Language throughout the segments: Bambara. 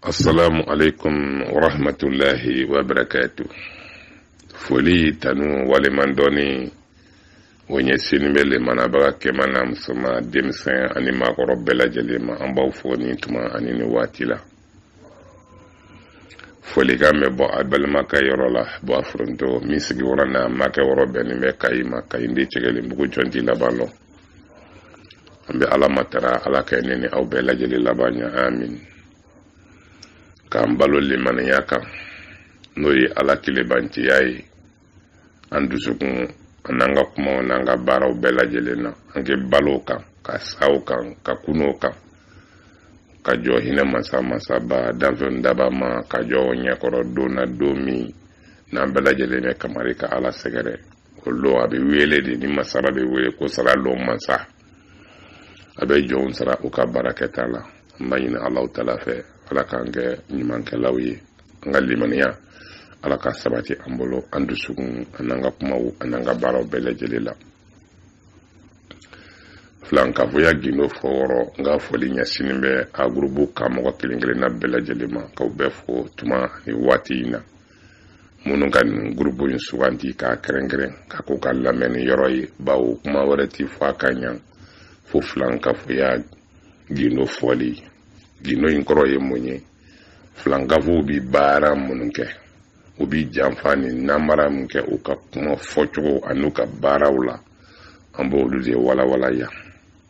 assalamu aleykum warahmatullahi wabarakatu foli tanu waleɲumandɔnni o ɲɛsinnen bɛ lamɛnbaga kɛma n'a musoma denmisɛn ani maakɔrɔ bɛɛ lajɛlen ma an b'aw fo nin tuma ani ni waati la folikan bɛ bɔ a balimakɛ yɔrɔ la bɔ a foronto min sigiyɔrɔ n'a makɛ yɔrɔ bɛnnen bɛ kayi ma kayi ndi cɛgɛlen bugu jɔn t'i laban lɔn an bɛ ala matara ala ka ne ni aw bɛɛ lajɛlen laban ɲɛ amin k'an balo limaniya kan n'o ye ala kelenbanciya ye an dusukun an'an ka kumaw n'an ka baaraw bɛɛ lajɛlen na an ka balo o kan ka sa o kan ka kunun o kan ka jɔ hinɛ masa masaba danfɛn dabaa ma ka jɔ ɲɛkɔrɔ don na don min na an bɛɛ lajɛlen bɛ kamari ka ala sɛgɛrɛ o don a bɛ wele de ni masara bɛ wele ko sara lon masa a bɛ jɔnw sara u ka baarakɛta la an b'a ɲini allahu taala fɛ ala k'an kɛ ɲumankɛlaw ye an ka limaniya ala ka sabati an bolo an dusukun an'an ka kumaw an'an ka baaraw bɛɛ lajɛlen la filankafoya gindo fɔyɔrɔ n ka foli ɲɛsinnen bɛ a gurupu ka mɔgɔ kelen kelenna bɛɛ lajɛlen ma k'aw bɛɛ fo tuma ni waati in na minnu ka nin gurupu in suganti k'a kɛrɛnkɛrɛn k'a k'u ka lamɛnni yɔrɔ ye bawo kuma wɛrɛ ti fɔ a kan yan fo filankafoya gindo fɔli gindo in kɔrɔ ye mun ye filankafow bi baara minnu kɛ u bi janfa ni namara min kɛ u ka kuma fɔcogo an'u ka baaraw la an b'olu de walawala yan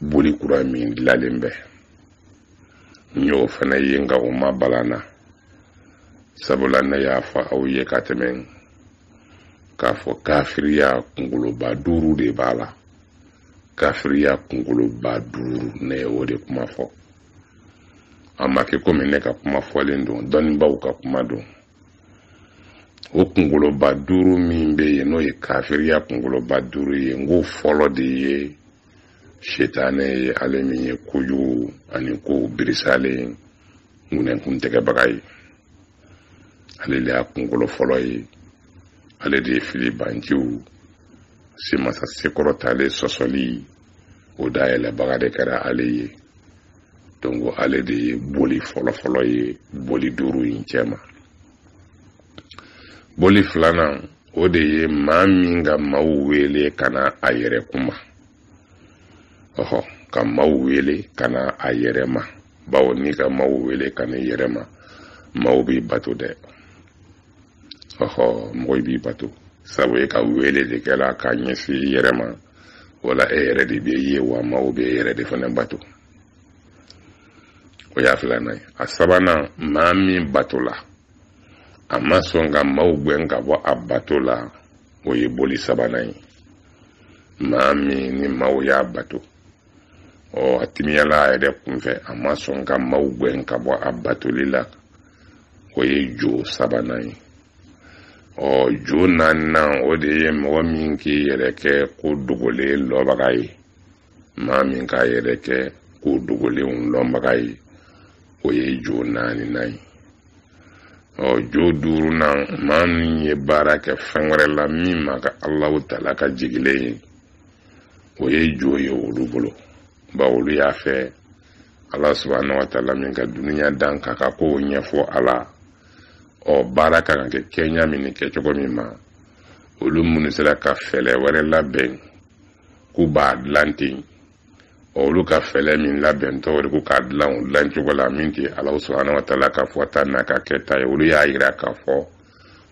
boli kura min dilalen bɛ n y'o fana ye nka o ma bala n na sabula ne y'a fɔ aw ye ka tɛmɛ k'a fɔ kafiriya kunkoloba duuru de b'a la kafiriya kunkoloba duuru ne ye o de kuma fɔ a ma kɛ komi ne ka kuma fɔlen don dɔnnibaaw ka kuma don o kungoloba duuru min bɛ yen n'o ye kafiriya kungoloba duuru ye n ko fɔlɔ de ye setanɛ ye ale min ye kojugu ani ko birisalen ŋunɛkun tɛgɛbaga ye ale de y'a kungolo fɔlɔ ye ale de ye filibanciw se masa se kɔrɔtalen sɔsɔli o dayɛlɛbaga de kɛra ale ye donc ale de ye boli fɔlɔfɔlɔ ye boli duuru in cɛma boli filanan o de ye maa min ka maaw wele ka na a yɛrɛ kuma ɔhɔ ka maaw wele ka na a yɛrɛ ma bawo n'i ka maaw wele ka na i yɛrɛ ma maaw b'i bato dɛ ɔhɔ mɔgɔ b'i bato sabu e ka wele de kɛra k'a ɲɛsin i yɛrɛ ma wala e yɛrɛ de bɛ ye wa maaw bɛ e yɛrɛ de fana bato o y'a filanan ye a sabanan maa min batola a ma sɔn ka maaw gɛn ka bɔ a bato la o ye boli sabanan ye maa min ni maaw y'a bato ɔ a timiyala a yɛrɛ kunfɛ a ma sɔn ka maaw gɛn ka bɔ a batoli la o ye jo sabanan ye ɔ jo naaninan o de ye mɔgɔ min k'i yɛrɛ kɛ ko dogolen lɔnbaga ye maa min k'a yɛrɛ kɛ ko dogolenw lɔnbaga ye o ye jo naaninan ye ɔ jo duurunan maa min ye baara kɛ fɛn wɛrɛ la min ma kɛ alahu taala ka jigilen ye o ye jo ye olu bolo ba olu y'a fɛ ala subahana wa taala min ka dunuya dan k'a ka kow ɲɛfɔ a la ɔ baara ka kan kɛ kɛɲa min ni kɛcogo min ma olu minnu sera ka fɛlɛ wɛrɛ labɛn k'u b'a dilan ten ɔ olu ka fɛlɛ min labɛntɔ o de ko k'a dilan o dilancogo la min tɛ ala subahana wa taala ka fɔta n'a ka kɛta ye olu y'a yira k'a fɔ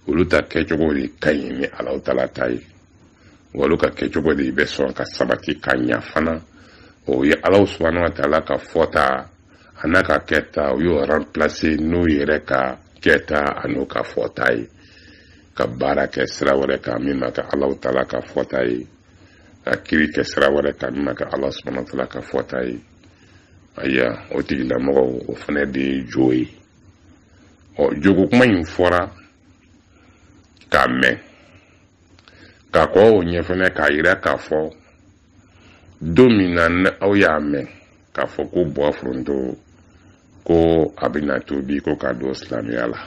olu ta kɛcogo de ka ɲi ni ala taala ta ye wa olu ka kɛcogo de bɛ sɔn ka sabati ka ɲa fana o ye alahu subahana wa taala ka fɔta an'a ka kɛta o y'o ranpilase n'o yɛrɛ ka kɛta an'o ka fɔta ye ka baara kɛ sira wɛrɛ kan min ma kɛ alahu taala ka fɔta ye ka kiri kɛ sira wɛrɛ kan min ma kɛ ala subahana wa taala ka fɔta ye ayiwa o tigilamɔgɔw o fana de ye jo ye ɔ joko kuma in fɔra k'a mɛn ka kɔn o ɲɛ fɛnɛ k'a yira k'a fɔ don min na ni aw y'a mɛn k'a fɔ ko buwa foronto ko a bɛna tubi ko ka don silamɛya la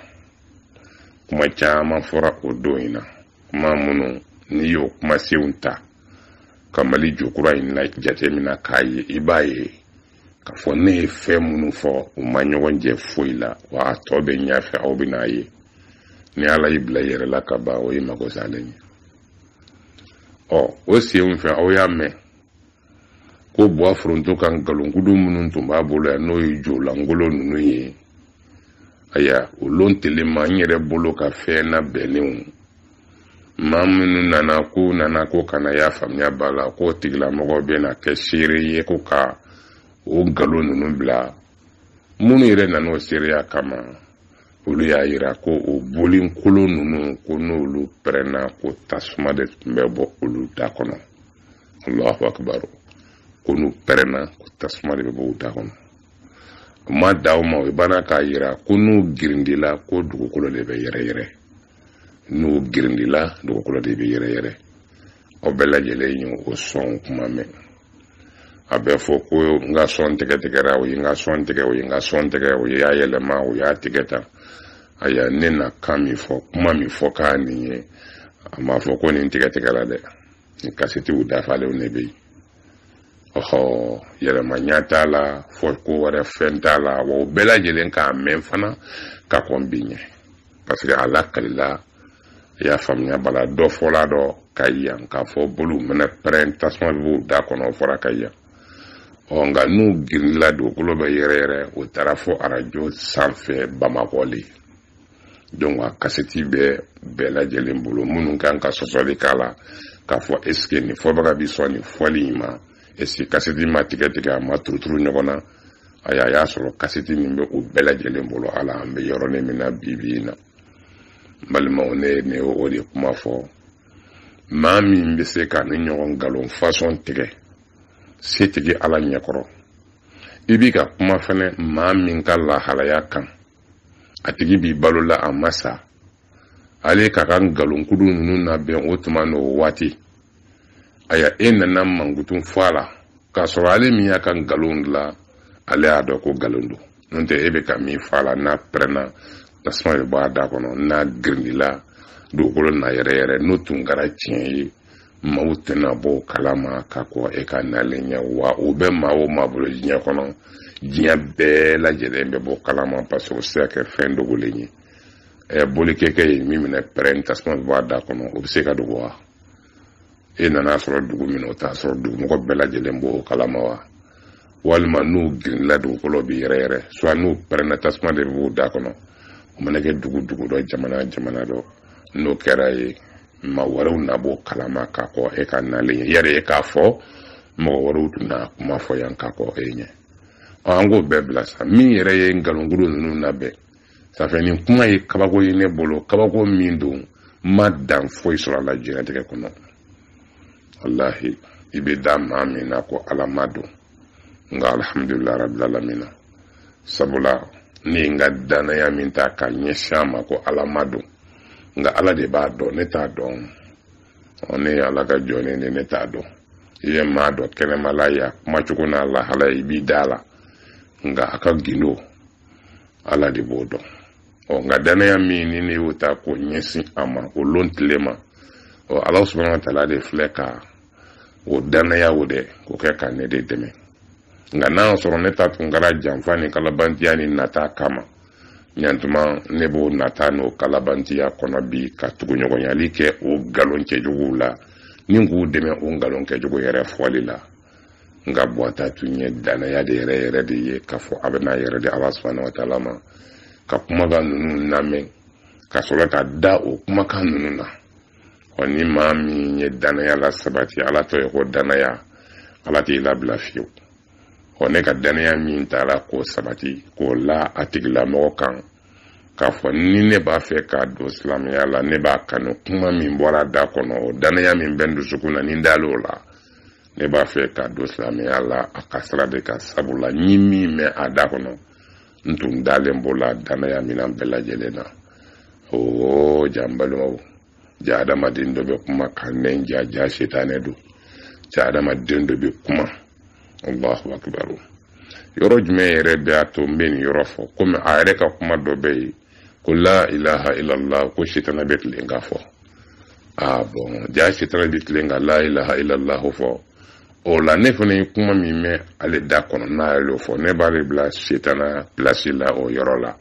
kuma caman fɔra o don in na kuma minnu n'i y'o kumasenw ta ka mali jokura in na jatemina k'a ye i b'a ye k'a fɔ ne ye fɛn minnu fɔ u ma ɲɔgɔn jɛ foyi la wa a tɔ bɛ ɲɛ fɛ aw bɛ n'a ye ni ala y'i bila i yɛrɛ la ka ban o ye mago salen ye ɔ o sen fɛ aw y'a mɛn ko buwa foronto ka nkalonkudu minnu tun b'a bolo yan n'o ye jo lankolon ninnu ye aya o lon telen ma n yɛrɛ bolo ka fɛn nabɛnnenw maa minnu nana k'u nana ko ka na y'a faamuya b'a la k'o tigilamɔgɔ bɛ na kɛ seere ye ko ka o nkalon ninnu bila minnu yɛrɛ nana o seereya kama olu y'a yira ko o boli kolon ninnu ko n'olu pɛrɛnna ko tasuma de tun bɛ bɔ olu da kɔnɔ allahu akibaru ko n'u pɛrɛnna ko tasuma de bɛ bɔ u da kɔnɔ u ma dan o ma o banna k'a yira ko n'u girindila ko dugukolo de bɛ yɛrɛyɛrɛ n'u girindila dugukolo de bɛ yɛrɛ yɛrɛ aw bɛɛ lajɛlen ye o sɔn kuma mɛn a bɛ fɔ ko n ka sɔn tigɛ tigɛra o ye n ka sɔn tigɛ o ye n ka sɔn tigɛ o ye y'a yɛlɛma o y'a tigɛ ta aya ne na kan min fɔ kuma min fɔ k'a nin ye a m'a fɔ ko nin tigɛ tigɛra dɛ nin kasetiw dafalenw de bɛ yen ɔhɔ yɛlɛmanya t'a la fɔ ko wɛrɛ fɛn t'a la wa o bɛɛ lajɛlen k'a mɛn fana ka kɔn bi ɲɛ parce que a lakalila i y'a faamuya bala dɔ fɔla dɔ ka yan k'a fɔ boliw mɛnɛ pɛrɛn tasuma bɛ b'u da kɔnɔ o fɔra ka yan ɔ nka n'u girinla dugukolo bɛ yɛrɛ yɛrɛ o taara fɔ arajo sanfɛ bamakɔ le donc a kasɛti bɛ bɛɛ lajɛlen bolo minnu kan ka sɔsɔli k'a la k'a fɔ est-ce que nin fɔbaga bi sɔn nin fɔli in ma est-ce que kasɛti ma tigɛ tigɛ a ma turuturu ɲɔgɔn na a y'a sɔrɔ kasɛti min bɛ u bɛɛ lajɛlen bolo ala an bɛ yɔrɔnin min na bi bi in na balimaw ne ye ne o de kuma fɔ maa min bɛ se ka nin ɲɔgɔn nkalon façon tigɛ setigi ala ɲɛkɔrɔ i bi ka kuma fɛnɛ maa min ka lahalaya kan a tigi bi balo la a ma sa ale ka ka nkalonkudu ninnu labɛn o tuma n'o waati aya e nana mankutu fɔ a la k'a sɔrɔ ale min y'a ka nkalon la ale y'a dɔn ko nkalon don n'o tɛ e bɛ ka min fɔ a la n'a pɛrɛnna tasuma bɛ bɔ a da kɔnɔ n'a girindila dugukolo na yɛrɛ yɛrɛ n'o tun kɛra tiɲɛ ye maaw tɛna bɔ o kalama ka kɔn e ka nalen ɲɛ wa o bɛ maa o maa bolo diɲɛ kɔnɔ diɲɛ bɛɛ lajɛlen bɛ b'o kalama parce que o se ka kɛ fɛn dogolen ye bolikɛkɛ ye min mɛnɛ pɛrɛn tasuma bɛ bɔ a da kɔnɔ o bɛ se ka dogo wa e nana sɔrɔ dugu min o t'a sɔrɔ dugumɔgɔ bɛɛ lajɛlen b'o kalama wa walima n'u girinla dugukolo bi yɛrɛ yɛrɛ soit n'u pɛrɛnna tasuma de b'u da kɔnɔ o mana kɛ dugu dugu dɔ jamana jamana dɔ n'o kɛra yen maa wɛrɛw na b'o kalama ka kɔn e ka nalen ɲɛ yɛrɛ e k'a fɔ mɔgɔ wɛrɛw tun na kuma fɔ yan ka kɔn e ɲɛ an k'o bɛɛ bila sa min yɛrɛ ye nkalonkudu ninnu labɛn safɛ nin kuma ye kabako ye ne bolo kabako min don n ma dan foyi sɔrɔ a la diɲɛlatigɛ kɔnɔ walahi i bɛ da maa min na ko ala maa don nka alhamdulilayi rabbil alamina sabula ne ye n ka danaya min ta ka ɲɛsin a ma ko ala maa don nka ala de b'a dɔn ne t'a dɔn ne ye ala ka jɔn de ne t'a dɔn i ye maa dɔ kɛnɛmala ye a kumacogo n'a lahala i b'i da la nka a ka gindo ala de b'o dɔn ɔ nka danaya min ni ne y'o ta k'o ɲɛsin a ma o lon tile ma ɔ ala subahana wa taala de filɛ ka o danaya o dɛ k'o kɛ ka ne de dɛmɛ nka n'a sɔrɔ ne ta tun kɛra janfa ni kalabantiya ni nata kama ɲantuma ne b'o nata n'o kalabantiya kɔnɔ bi ka tuguɲɔgɔnyali kɛ o nkalon cɛjuguw la ni k'u dɛmɛ o nkalon cɛjugu yɛrɛ fɔli la nka bɔta tun ye dannaya de yɛrɛ yɛrɛ de ye k'a fɔ a bɛna yɛrɛ di ala subahana wa taala ma ka kumakan ninnu lamɛn ka sɔrɔ ka da o kumakan ninnu na ɔ ni maa min ye dannaya lasabati ala tɔ ye ko dannaya ala t'i labila fiyewu ɔ ne ka dannaya min taara k'o sabati k'o la a tigilamɔgɔ kan k'a fɔ ni ne b'a fɛ ka don silamɛya la ne b'a kanu kuma min bɔr'a da kɔnɔ o dannaya min bɛ n dusukun na ni n dal'o la ne b'a fɛ ka don silamɛya la a ka sira de kan sabu la n ye min mɛn a da kɔnɔ n tun dalen b'o la danaya minan bɛɛ lajɛlen na oo ja n balimaw ja adamaden dɔ bɛ kuma ka ɲɛ ja ja setanɛ don ja adamaden dɔ bɛ kuma allahu akibaru yɔrɔ jumɛn yɛrɛ bɛ a to n bɛ nin yɔrɔ fɔ komi a yɛrɛ ka kuma dɔ bɛ yen ko la ilaha illallah ko sitana bɛ tilen k'a fɔ bɔn ja sitana bɛ tilen ka la ilaha illallah fɔ o la ne fana ye kuma min mɛn ale da kɔnɔ n'ale y'o fɔ ne b'ale bila sitana pilasi la o yɔrɔ la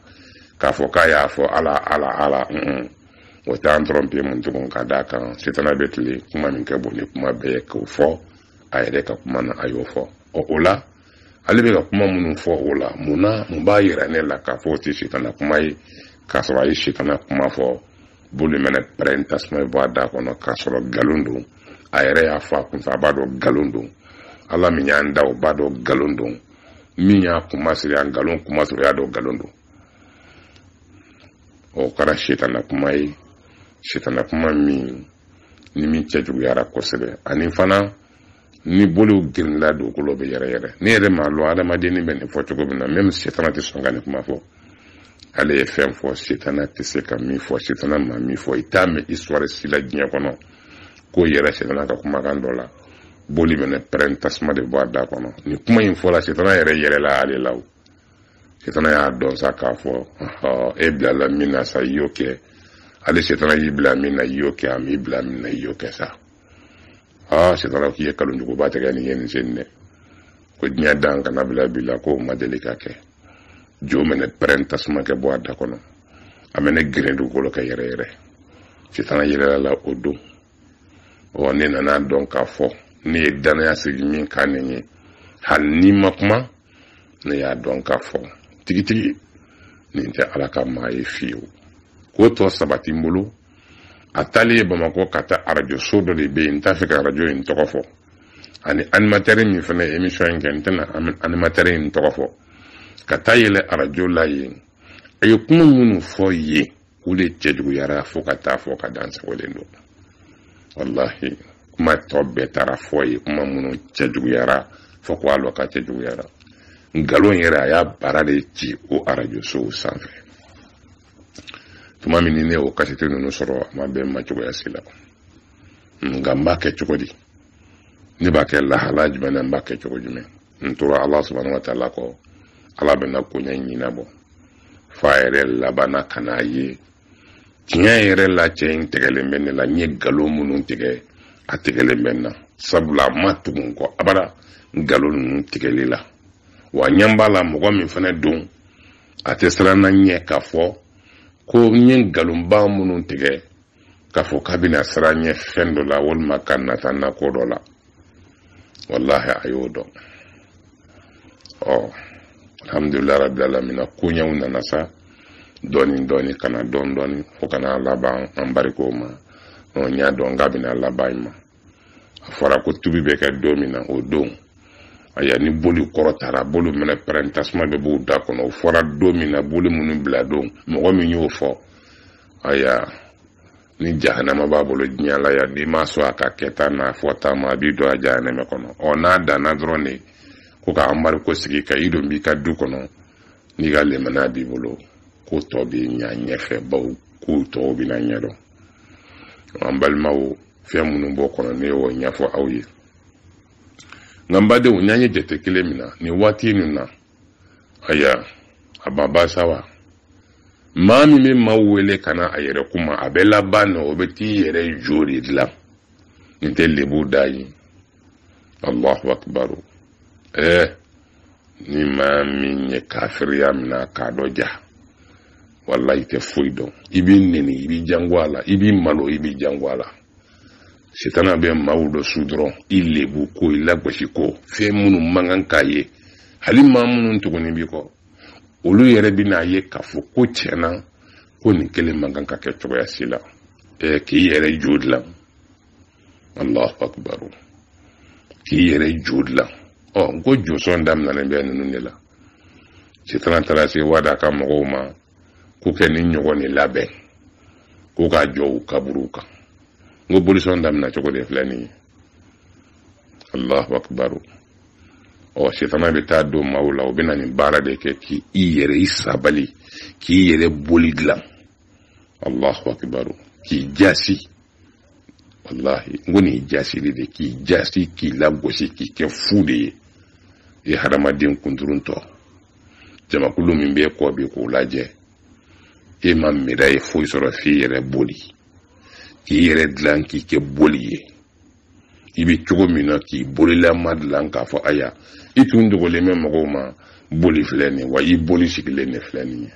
k'a fɔ k'a y'a fɔ ala ala ala un o t'an tɔrɔnpe mun tugun ka d'a kan sitana bɛ tilen kuma min ka bon ni kuma bɛɛ ye k'o fɔ a yɛrɛ ka kuma na a y'o fɔ ɔ o la ale bɛ ka kuma minnu fɔ o la mun na mun b'a yira ne la k'a fɔ o tɛ sitana kuma ye k'a sɔrɔ a ye sitana kuma fɔ boli mɛnɛ pɛrɛn tasuma bɔ a da kɔnɔ k'a sɔrɔ nkalon don a yɛrɛ y'a fɔ a kunfɛ a b'a dɔn nkalon don ala min y'an da o b'a dɔn nkalon don min y'a kuma siri a nkalon kuma siri o y'a dɔn nkalon don o kɛra sitana kuma ye sitana kuma min ni min cɛjuguyara kosɛbɛ ani fana ni boliw girinla dugukolo bɛ yɛrɛyɛrɛ ne yɛrɛ m'a lɔn adamadenni bɛ nin fɔ cogo min na mɛmu setana tɛ sɔn ka nin kuma fɔ ale ye fɛn fɔ setana tɛ se ka min fɔ setana ma min fɔ i t'a mɛn isituwari si la diɲɛ kɔnɔ k'o yera setana ka kumakan dɔ la boli mɛnɛ pɛrɛn tasuma de bɔ a da kɔnɔ nin kuma in fɔla setana yɛrɛ yɛlɛla ale la o setana y'a dɔn sa k'a fɔ e bilala min na sa i y'o kɛ ale setana y'i bila min na i y'o kɛ a m'i bila min na i y'o kɛ sa aa sitana k'i ye kalon juguba tigɛ nin ye nin sen dɛ ko diɲɛ dan ka na bila bi la k'o ma deli ka kɛ jo mɛnɛ pɛrɛn tasuma kɛ bɔ a da kɔnɔ a mɛnɛ geren dugukolo kɛ yɛrɛ yɛrɛ sitana yɛlɛla la o don ɔ ne nana a dɔn k'a fɔ ne ye danaya sigi min kan nin ye hali n'i ma kuma ne y'a dɔn k'a fɔ tigitigi nin tɛ ala ka maa ye fiyewu k'o tɔ sabati n bolo a taalen ye bamakɔ ka taa arajo so dɔ de bɛ yen n t'a fɛ ka arajo in tɔgɔ fɔ ani animatɛri min fana ye emisɔn in kɛ n tɛna animatɛri in tɔgɔ fɔ ka taa yɛlɛ arajo la yen a ye kuma minnu fɔ yen o de cɛjuguyara fo ka taa fɔ k'a dansagolen don walahi kuma tɔ bɛɛ taara fɔ yen kuma minnu cɛjuguyara fo ko a lɔ ka cɛjuguyara nkalon yɛrɛ a y'a baara de ci o arajo sow sanfɛ tuma min ni ne y'o kasite ninnu sɔrɔ a ma bɛn n ma cogoya si la nka n b'a kɛ cogo di ne b'a kɛ lahala jumɛn na n b'a kɛ cogo jumɛn n tora ala subahana wa taala kɔ ala bɛna koɲɛ ɲɛnabɔ f'a yɛrɛ labanna ka n'a ye tiɲɛ yɛrɛ la cɛ in tigɛlen bɛ ne la n ye nkalon minnu tigɛ a tigɛlen bɛ n na sabula a ma tugu n kɔ abada nkalon ninnu tigɛli la wa n ɲɛ b'a la mɔgɔ min fana don a tɛ siran ne ɲɛ k'a fɔ ko n ye nkalonba minnu tigɛ k'a fɔ k'a bɛna siran n ɲɛ fɛn dɔ la walima ka nata n na ko dɔ la walahi a y'o dɔn ɔ alhamdulilah rabi alamina koɲɛw nana sa dɔɔni dɔɔni ka na dɔɔni dɔɔni fo ka na laban anbariko ma ɔ n y'a dɔn k'a bɛna laban nin ma a fɔra ko tubi bɛ kɛ don min na o don aya ni boli kɔrɔ taara boliw mɛnɛ pɛrɛn tasuma bɛ b'u da kɔnɔ o fɔra don min na boli minnu bila don mɔgɔ min y'o fɔ aya ni jahanama b'a bolo diɲɛ la yan n'i ma sɔn a ka kɛta n'a fɔta ma a b'i don a jahanama kɔnɔ ɔ n'a danna dɔrɔn de ko ka anbariko sigi ka i don b'i ka du kɔnɔ n'i ka lemana b'i bolo ko tɔ b'i ɲa ɲɛfɛ baw k'u tɔw bɛna ɲɛdɔn an balimaw fɛn minnu b'o kɔnɔ ne y'o ɲɛfɔ aw ye nka n badenw n'an ye jate kelen minɛ nin waati ninnu na aya a ma ba sa wa maa min bɛ maaw wele ka na a yɛrɛ kuma a bɛ laban na o bɛ t'i yɛrɛ jo de dilan nin tɛ lebu dan ye allahu akibaru ɛɛ ni maa min ye kafiriya minɛ k'a dɔ ja walahi i tɛ foyi dɔn i b'i neni i b'i jango a la i b'i malo i b'i jango a la sitana bɛ maaw dɔ su dɔrɔn i lebu ko i lagosi ko fɛn minnu man kan ka ye hali maa minnu tuguni b'i kɔ olu yɛrɛ bɛn'a ye k'a fɔ ko tiɲɛ na ko nin kelen man kan ka kɛ cogoya si la k'i yɛrɛ jo dilan alahu akubaru k'i yɛrɛ jo dilan ɔ n ko josɔn daminɛlen bɛ ninnu de la sitana taara se wada ka mɔgɔw ma k'u kɛ nin ɲɔgɔn nin labɛn k'u k'a jɔ u kaburuw kan n ko bolisɔn daminɛ cogo de filɛ nin ye alahu akubaru ɔ sitana bɛ taa don maaw la u bɛ na nin baara de kɛ k'i i yɛrɛ i sabali k'i yɛrɛ boli dilan allahu akibaru k'i jasi wallahi n ko nin ye jasili de k'i jasi k'i lagosi k'i kɛ fu de ye i hadamaden kunturuntɔ jamakulu min b'i kɔ bi k'o lajɛ e ma miiriya foyi sɔrɔ f'i yɛrɛ boli k'i yɛrɛ dilan k'i kɛ boli ye i bɛ cogo min na k'i bolilama dilan k'a fɔ aya i tun dogolen bɛ mɔgɔw ma boli filɛ nin wa i boli sigilen de filɛ nin ye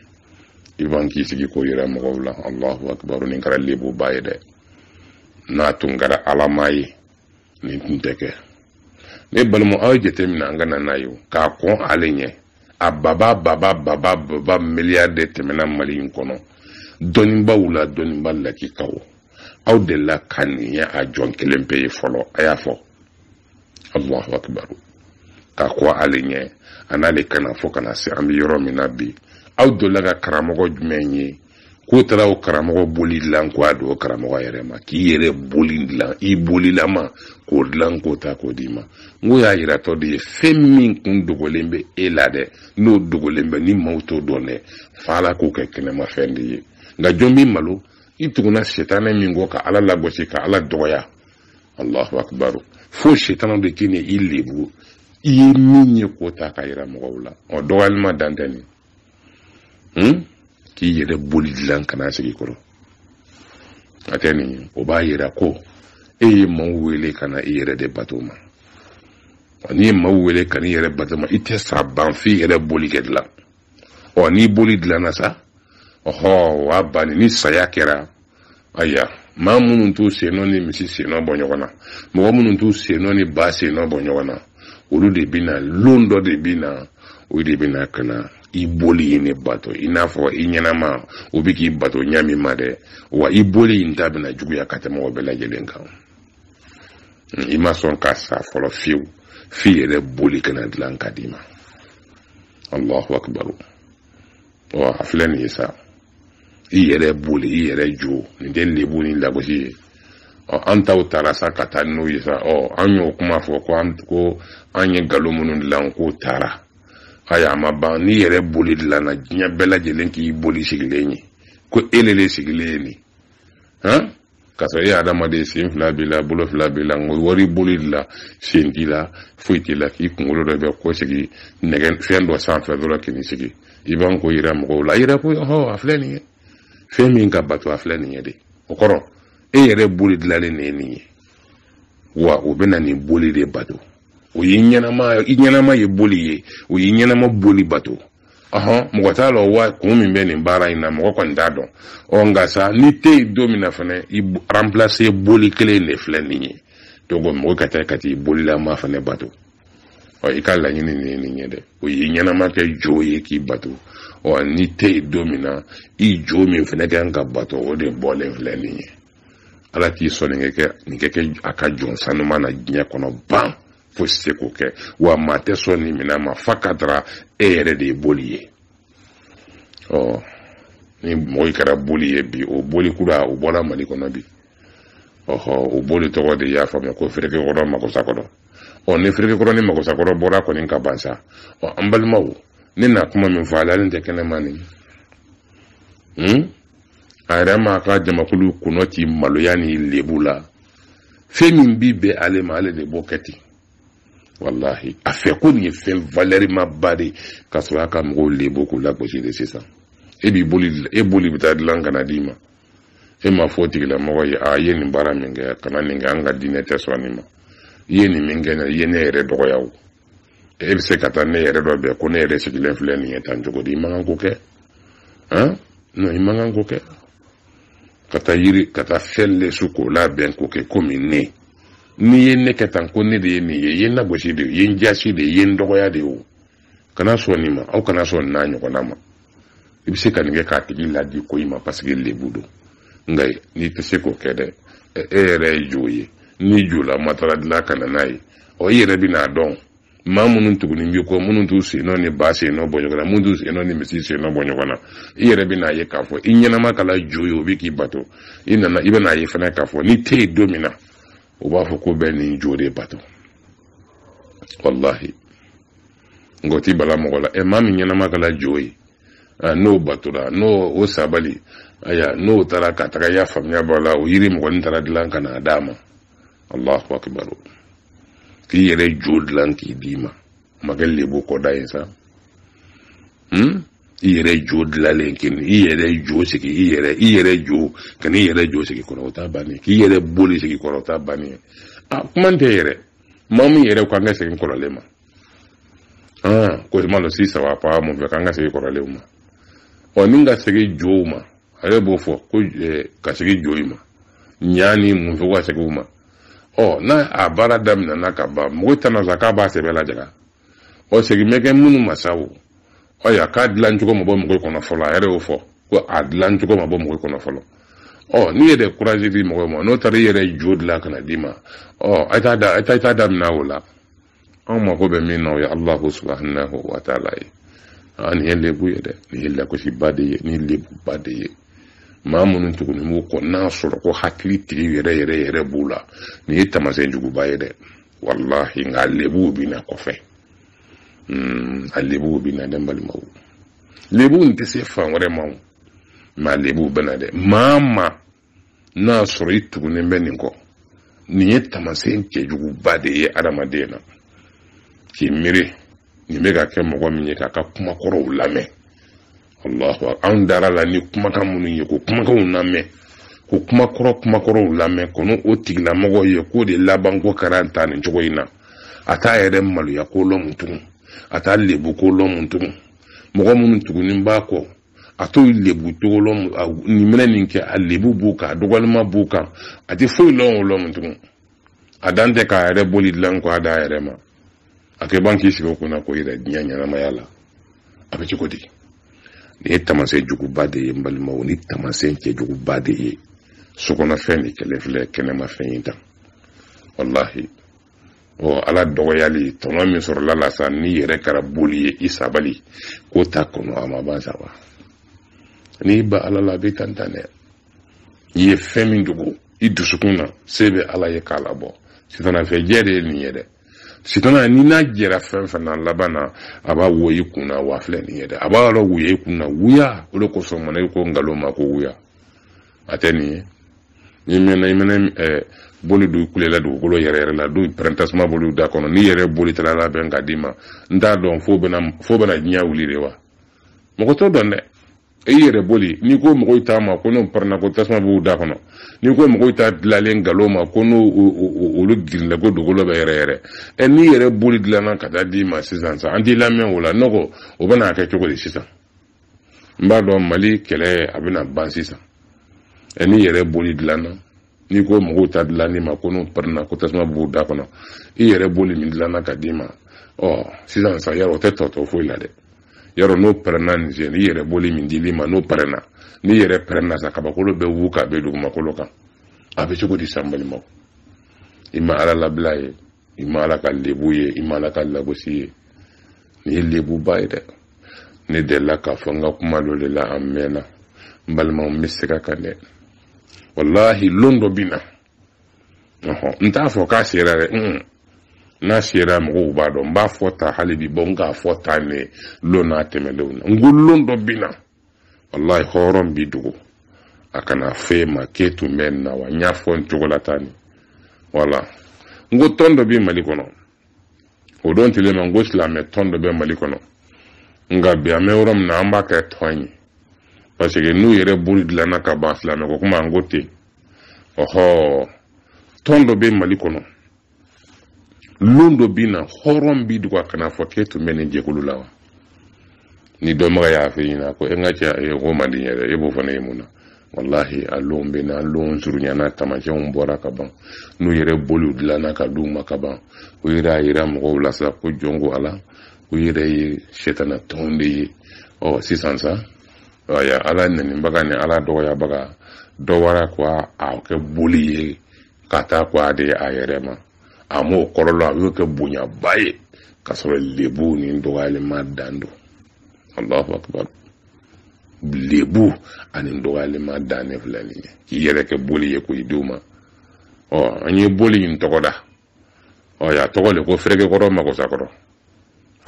i b'an k'i sigi k'o yira mɔgɔw la alahu akibaru nin kɛra lebuba ye dɛ n'a tun kɛra alama ye nin tun tɛ kɛ ne balima aw ye jateminɛ an ka na n'a ye k'a kɔn ale ɲɛ a baba baba baba baba miliyari de tɛmɛna mali in kɔnɔ dɔnnibaaw la dɔnnibaa lakikaw aw delila ka nin ye a jɔn kelen pe ye fɔlɔ a y'a fɔ allahu akibaru k'a kɔn ale ɲɛ a n'ale ka na fo ka na se an bɛ yɔrɔ min na bi aw delila ka karamɔgɔ jumɛn ye k'o taara o karamɔgɔ boli dilan ko a don o karamɔgɔ yɛrɛ ma k'i yɛrɛ boli dilan i bolilama k'o dilan k'o ta k'o d'i ma n ko y'a yiratɔ de ye fɛn min tun dogolen bɛ e la dɛ n'o dogolen bɛ ni maaw t'o dɔn dɛ f'ala k'o kɛ kɛnɛmafɛn de ye nka jɔn b'i malo i tuguna sitanɛ min kɔ ka ala lagosi ka ala dɔgɔya allahu akbaru fo sitanɛ de ka n'i lebu i ye min ye k'o ta k'a yira mɔgɔw la ɔ dɔgɔyali ma dan tɛ nin hmm? k'i yɛrɛ boli dilan ka n'a sigi i kɔrɔ a tɛ nin ye o b'a yira ko e ye maaw wele ka na i yɛrɛ de bato ma n'i ye maaw wele ka n'i yɛrɛ bato ma i tɛ sa ban f'i yɛrɛ boli kɛ dilan ɔ n'i boli dilanna sa ɔhɔ wa banni ni saya kɛra aya maa minnu t'u sennɔ ni misi sennɔ bɔ ɲɔgɔn na mɔgɔ minnu t'u sennɔ ni ba sennɔ bɔ ɲɔgɔn na olu de bɛ na lon dɔ de bɛ na o de bɛ na ka na i boli in ne bato i n'a fɔ i ɲɛnama o bɛ k'i bato ɲɛ min ma dɛ wa i boli in ta bɛna juguya ka tɛmɛ o bɛɛ lajɛlen kan i ma sɔn ka sa fɔlɔ fiyewu f'i yɛrɛ boli ka na dilan ka d'i ma allahu akbar ɔ a filɛ nin ye sa i yɛrɛ boli i yɛrɛ jo nin tɛ lebu ni lagosi ye ɔ an taw taara sa ka taa n'o ye sa ɔ an y'o kuma fɔ ko an ko an ye nkalon minnu dilan k'o taara ayi a ma ban n'i yɛrɛ boli dilanna diɲɛ bɛɛ lajɛlen k'i boli sigilen ye ko e le le sigilen ye nin han ka sɔrɔ e ye adamaden sen fila b'i la bolo fila b'i la nka wari boli dilan sen t'i la foyi t'i la k'i kunkolo dɔ bɛn k'o sigi nɛgɛ fɛn dɔ sanfɛ dɔrɔn k'i sigi i b'an ko yira mɔgɔw la a yira ko ɔhɔ a filɛ nin ye fɛn min ka bato a filɛ nin ye dɛ o kɔrɔ e yɛrɛ boli dilanlen de ye nin ye wa o bɛ na nin boli de bato o ye ɲɛnama i ɲɛnama ye boli ye o ye ɲɛnama boli bato ɔhɔn mɔgɔ t'a lɔn wa kun min bɛ nin baara in na mɔgɔ kɔni t'a dɔn ɔ nka sa n'i tɛ yen don min na fana i ranpilase boli kelen de filɛ nin ye donc mɔgɔ ka taa ka t'i bolilama fana bato ɔ i ka laɲini nin ye nin ye dɛ o y'i ɲɛnama kɛ jo ye k'i bato ɔ n'i tɛ yen don min na i jo min fana ka kan ka bato o de bɔlen filɛ nin ye ala k'i sɔn nin kɛ nin kɛ kɛ a ka jɔn sanuma na diɲɛ kɔnɔ ban foyi se k'o kɛ wa maa tɛ sɔn nin minɛn ma fa ka dara e yɛrɛ de ye boli ye ɔ ni mɔgɔ kɛra boli ye bi o boli kura o bɔra mali kɔnɔ bi ɔhɔ o boli tɔgɔ de y'a faamuya ko ferekekɔrɔ magosakɔrɔ ɔ ni ferekekɔrɔ ni magosakɔrɔ bɔra kɔni ka ban sa ɔ an balimaw ne na kuma min fɔ ale tɛ kɛnɛma nin hmm? a yɛrɛ m'a ka jamakulu kɔnɔ ci maloya ni lebu la fɛn min bi bɛn ale ma ale de b'o kɛ ten walahi a fɛ ko nin ye fɛn valɛrimaba de ka sɔrɔ a ka mɔgɔw lebu k'u lagosi de sisan e b'i boli e boli bɛ taa dilan ka na d'i ma e m'a fɔ tigilamɔgɔ ye i ye nin baara min kɛ kana nin kɛ an ka diinɛ tɛ sɔn nin ma i ye nin min kɛ i ye ne yɛrɛ dɔgɔya o e bɛ se ka taa ne yɛrɛ dɔ bɛn ko ne yɛrɛ sigilen filɛ nin ye tan cogo di i man kan k'o kɛ han non i man kan k'o kɛ ka taa yiri ka taa fɛn lɛsɛ k'o labɛn k'o kɛ komi ne n'i ye ne kɛ tan ko ne de ye nin ye i ye n lagosi de ye i ye n jasi de ye i ye n dɔgɔya de ye o kana sɔn nin ma aw kana sɔn nin n'a ɲɔgɔnna ma i bɛ se ka nin kɛ k'a tigi ladi ko i ma paseke lebu don nka n'i tɛ se k'o kɛ dɛ e yɛrɛ ye jo ye n'i jolama taara dilan ka na n'a ye ɔ i yɛrɛ bɛ n'a dɔn maa minnu tuguni b'i kɔ minnu t'u sen nɔ ni ba sen nɔ bɔ ɲɔgɔn na minnu t'u sen nɔ ni misi sen nɔ bɔ ɲɔgɔn na i yɛrɛ bɛ n'a ye k'a fɔ i ɲɛnama kɛra jo ye o bɛ k'i bato i nana i bɛ n'a ye fana k'a fɔ n'i tɛ yen don min na u b'a fɔ k'u bɛ nin jo de bato walahi nka o tɛ bala mɔgɔ la ɛ maa min ɲɛnama kɛra jo ye n'o batora n'o o sabali aya n'o taara ka taga y'a faamuya b'a la o yiri mɔgɔnin taara dilan ka n'a d'a ma allahu akibar k'i yɛrɛ jo dilan k'i d'i ma makɛ lebu kɔda ye sa hmm? i yɛrɛ jo dilalen kini i yɛrɛ jo sigi i yɛrɛ i yɛrɛ jo ka n'i yɛrɛ jo sigi kɔrɔ o t'a bannen k'i yɛrɛ boli sigi kɔrɔ o t'a bannen a kuma tɛ yɛrɛ maa min yɛrɛ ko an ka segin kɔrɔlen ma ko i ma dɔn sisan wa ko a m'o fɔ k'an ka segin kɔrɔlenw ma ɔ ni ka segin jow ma ale b'o fɔ ko ka segin jo ma ɲa ni mun fɛ ka segin u ma ɔ n'a a baara daminɛna ka ban mɔgɔ tɛna se k'a b'a sɛbɛn lajɛra ɔ segin bɛ kɛ minnu ma sa o ɔ ya k'a dilan cogo ma bɔ mɔgɔ kɔnɔ fɔlɔ a yɛrɛ y'o fɔ ko a dilan cogo ma bɔ mɔgɔ kɔnɔ fɔlɔ ɔ n'i yɛrɛ kurazi di mɔgɔ ma n'o taara i yɛrɛ jo dilan ka na d'i ma ɔ a t'a da a t'a daminɛ o la anw mago bɛ min na o ye alahu subahanahu wa taala ye aa nin ye lebu ye dɛ nin ye lakosiba de ye nin ye lebuba de ye maa minnu tugunen b'u kɔ n'a sɔrɔ ko hakili tigi yɛrɛ yɛrɛ yɛrɛ b'u la nin ye tamasɛn juguba ye dɛ walahi nka lebuw bɛ na kɔfɛ hmm, a lebuw bɛ na dɛ n balimaw lebuw tɛ se fan wɛrɛ ma o mɛ a lebuw bɛ na dɛ maa maa n'a sɔrɔ i tugunen bɛ nin kɔ nin ye tamasɛn cɛjuguba de ye adamaden na k'i miiri nin bɛ ka kɛ mɔgɔ min ye k'a ka kumakɔrɔw lamɛn allahu anw dara la ni kumakan minnu ye k'o kumakanw lamɛn k'o kumakɔrɔ kumakɔrɔw lamɛn kɔnɔ o tigilamɔgɔ ye k'o de laban ko kɛra tan nin cogo in na a t'a yɛrɛ maloya ko lɔn tugun a t'a lebu ko lɔn tugun mɔgɔ minnu tugunin b'a kɔ a t'o lebu tɔgɔ lɔn nin minɛ nin kɛ a lebu b'u kan a dɔgɔlima b'u kan a tɛ foyi lɔn o lɔn tugun a dan tɛ k'a yɛrɛ boli dilan kɔ a d'a yɛrɛ ma a kɛ ban k'i sigi o kunna ko yɛrɛ diɲɛ ɲɛnamaya la a bɛ cogo di nin ye tamasɛn juguba de ye n balimaw ni tamasɛn cɛjuguba de ye sokɔnɔfɛn in kɛlɛ filɛ kɛnɛmafɛn in ta walahi ɔ ala dɔgɔyali tɔnɔ min sɔrɔla la sa n'i yɛrɛ kɛra boli ye i sabali k'o ta kɔnɔ a ma ban sabu n'i ban ala la a bɛ tan tan dɛ i ye fɛn min dogo i dusukun na se bɛ ala ye k'a labɔ sitana fɛ jɛ de ye nin ye dɛ sitana n'i n'a jɛra fɛn fɛn na laban na a b'a wuya i kun na wa filɛ nin ye dɛ a b'a yɔrɔ wuya i kun na wuya o de kosɔn mana i ko nkalon ma ko wuya a tɛ nin ye n'i mɛnna i mɛnna eh, boli dɔw kulela dugukolo yɛrɛyɛrɛla dɔw pɛrɛn tasuma bɔli u da kɔnɔ n'i yɛrɛ boli taala labɛn ka d'i ma n t'a dɔn f'o bɛna f'o bɛna diɲɛ wuli de wa mɔgɔ t'o dɔn dɛ i yɛrɛ boli n'i ko mɔgɔw ta ma ko n'o pɛrɛnna ko tasuma b'u da kɔnɔ n'i ko mɔgɔw ta dilannen nkalon ma ko n'o olu girinla ko dugukolo bɛ yɛrɛyɛrɛ ɛ n'i yɛrɛ boli dilanna ka taa d'i ma sisan sa an t'i lamɛn o la ne ko o bɛna kɛ cogo di sisan n b'a dɔn mali kɛlɛ a bɛna ban sisan ɛ n'i yɛrɛ boli dilanna n'i ko mɔgɔw ta dilannen ma ko n'u pɛrɛnna ko tasuma b'u da kɔnɔ i yɛrɛ boli min dilanna ka d'i ma ɔ sisan sa yarɔ o tɛ tɔ to foyi la dɛ yarɔ n'o pɛrɛnna nin sen n'i yɛrɛ boli min dili ma n'o pɛrɛnna n'i yɛrɛ pɛrɛnna sa kabakolo bɛ wuli ka bin dugumakolo kan a bɛ cogo di sa n balimaw i ma ala labila ye i ma ala ka lebu ye i ma ala ka lagosi ye nin ye lebuba ye dɛ ne delila k'a fɔ n ka kuma dɔ de la a mɛnna n balimaw n bɛ segin a kan dɛ walahi lon dɔ bɛ na n t'a fɔ k'a sera dɛ n'a sera mɔgɔw b'a dɔn n b'a fɔ tan hali bi bɔ n k'a fɔ tan ne lon n'a tɛmɛnlenw na n ko lon dɔ bɛ na wallahi hɔrɔn b'i dogo a kana fɔ i ma k'e tun bɛ nin na wa n y'a fɔ n cogo la tan nin wala n ko tɔn dɔ bɛ mali kɔnɔ o don tile ma n ko silamɛ tɔn dɔ bɛ mali kɔnɔ nka bi an bɛ yɔrɔ min na an b'a kɛ tɔn ye parce que n'u yɛrɛ boli dilanna ka ban silamɛ ko kuma an ko ten ɔhɔ tɔn dɔ bɛ mali kɔnɔ lon dɔ bɛ na hɔrɔn b'i dogo a kana fɔ k'e tun bɛ nin jɛkulu la wa ni dɔnbaga y'a fɔ i ɲɛ na ko e n ka cɛ e ko man di n ye dɛ e b'o fana ye mun na walahi a lon bɛ na lon surunyana taamasiyɛnw bɔra ka ban n'u yɛrɛ boliw dilanna ka d'u ma ka ban u yɛrɛ y'a yira mɔgɔw la sa ko jɔn ko ala u yɛrɛ ye sɛtana tɔn de ye ɔ sisan sa ala nanibaga ni ala dɔgɔyabaga dɔ wara ko a kɛ boli ye ka taa ko a di a yɛrɛ ma a m'o kɔrɔ lɔn a y'o kɛ bonyaba ye ka sɔrɔ lebu ni dɔgɔyalen ma dan don alahu akibaru lebu ani dɔgɔyalen ma dan ne filɛ nin ye k'i yɛrɛ kɛ boli ye ko i denw ma ɔ an ye boli in tɔgɔ da ɔ y'a tɔgɔ le ko ferekekɔrɔ makosakɔrɔ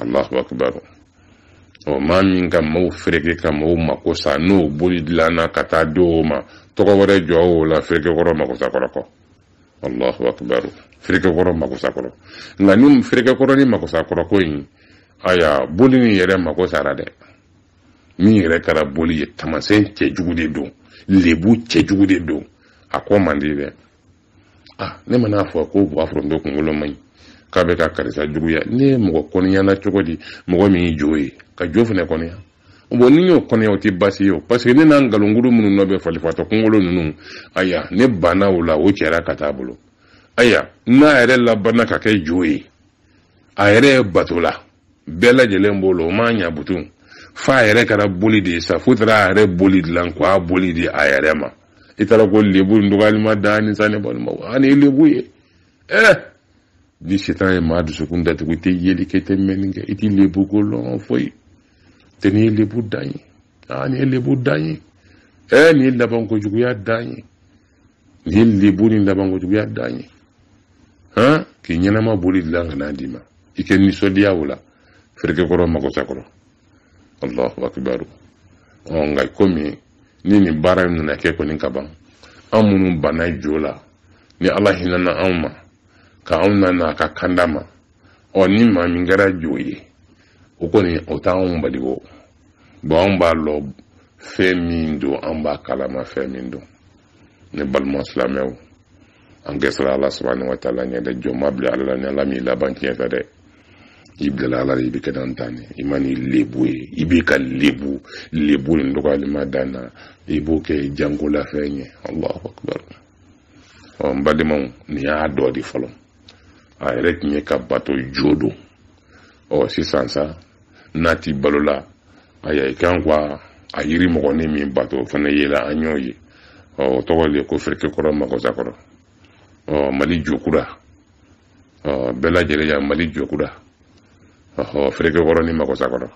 allahu akbar o maa min ka maaw fereke ka maaw mako sa n'o boli dilanna ka taa di o ma tɔgɔ wɛrɛ jɔ o la ferekekɔrɔ makosakɔrɔ kɔ allahu akbar ferekekɔrɔ makosakɔrɔ nka ni ferekekɔrɔ ni makosakɔrɔ ko in aya boli nin yɛrɛ mako sara dɛ min yɛrɛ kɛra boli ye taamasiyɛn cɛjugu de don lebu cɛjugu de don a kɔ man di dɛ ah ne man'a fɔ ko buwa foronto kunkolo man ɲi k'a bɛ ka karisa juguya ne ye mɔgɔ kɔniyana cogo di mɔgɔ min ye jo ye ka jo fana kɔniya bon n'i y'o kɔniya o tɛ baasi ye o parce que ne n'a nkalonkudu minnu nɔ bɛ falifatɔ kunkolo ninnu aya ne banna o la o cɛra ka taa bolo aya n'a yɛrɛ labanna ka kɛ jo ye a yɛrɛ ye bato la bɛɛ lajɛlen b'o la o m'a ɲa butun f'a yɛrɛ kɛra boli de ye sa f'u taara a yɛrɛ boli dilan k'a boli di a yɛrɛ ma i taara ko lebu dɔgɔyalima dan ni sa ne balima a nin ye lebu ye eh ni setan ye maa dusukun datugu i tɛ yeli kɛ i tɛ mɛnni kɛ i t'i lebu ko lɔn foyi tɛ nin ye lebu dan ye aa nin ye lebu dan ye eh nin ye labanko juguya dan ye nin lebu ni labanko juguya dan ye han k'i ɲɛnama boli dilan ka n'a d'i ma i kɛ nisɔndiya o la ferekekɔrɔ magosakɔrɔ allahu akibaru ɔ nka komi ni nin baara in nana kɛ kɔni ka ban an minnu banna jo la ni ala hinɛna anw ma ka anw na n'a ka kanda ma ɔ ni maa min kɛra jo ye o kɔni o t'anw bali k'o bon anw b'a lɔ fɛn min don an b'a kalama fɛn min don ne balima silamɛw an ka siran ala subahana wa taala ɲɛ dɛ jɔn ma bila ala la ni ala m'i laban tiɲɛ fɛ dɛ i bilala ala de i bɛ kɛ dan tan i ma ni lebu ye i b'i ka lebu lebu nin dɔgɔyalima dan na i b'o kɛ jankolafɛn ye allahu akibaru ɔ n balimaw nin y'a dɔ de fɔlɔ a yɛrɛ tun ye k'a bato jo don ɔ sisan sa n'a tɛ balo la aya i kan ka a yiri mɔgɔnin min bato o fana yela an y'o ye ɔ o tɔgɔ de ko ferekekɔrɔ magosakɔrɔ ɔ mali jokura ɔ bɛɛ lajɛlen ya mali jokura ɔhɔ ferekekɔrɔ ni magosakɔrɔ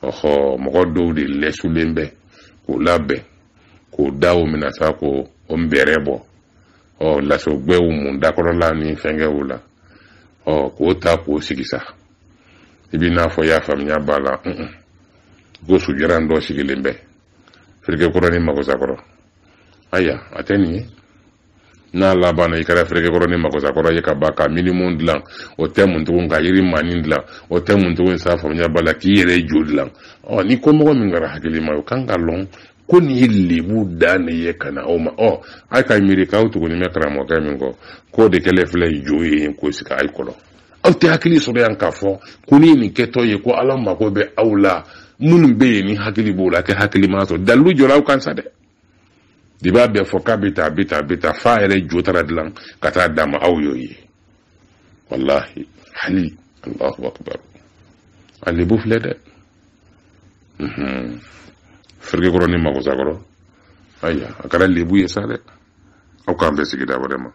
ɔhɔ mɔgɔ dɔw de lɛsulen bɛ k'o labɛn k'o da o minɛ sa ko o nbɛrɛ bɔ ɔ laso gbɛ mun dakɔrɔla ni fɛnkɛw la ɔ k'o ta k'o sigi sa i b'i n'a fɔ y'a faamuya b'a la ko sujaran dɔ sigilen bɛ ferekekɔrɔ ni magosakɔrɔ aya a tɛ nin ye n'a labanna i kɛra ferekekɔrɔ ni magosakɔrɔ ye ka ban ka minimu dilan o tɛ mun tugun ka yiri maanin dilan o tɛ mun tugun sa faamuya b'a la k'i yɛrɛ jo dilan ɔ ni ko mɔgɔ min kɛra hakilima ye o kan ka lɔn ko nin ye lebu dan de ye ka na aw ma ɔ aw ka miiri k'aw tugunin bɛ karamɔgɔkɛ min kɔ k'o de kɛlen filɛ jo ye k'o sigi a kɔrɔ aw tɛ hakili sɔrɔ yan k'a fɔ ko ni nin kɛtɔ ye ko ala mago bɛ aw la minnu bɛ yen ni hakili b'o la kɛ hakili ma sɔrɔ dalilu jɔra aw kan sa dɛ de b'a bɛɛ fɔ k'a bɛ taa a bɛ taa a bɛ taa f'a yɛrɛ jo taara dilan ka taa d'a ma aw y'o ye wallahi hali allahu akbar a lebu filɛ dɛ ferekekɔrɔ ni magosakɔrɔ aya a kɛra lebu ye sa dɛ aw k'an bɛɛ sigida vraiment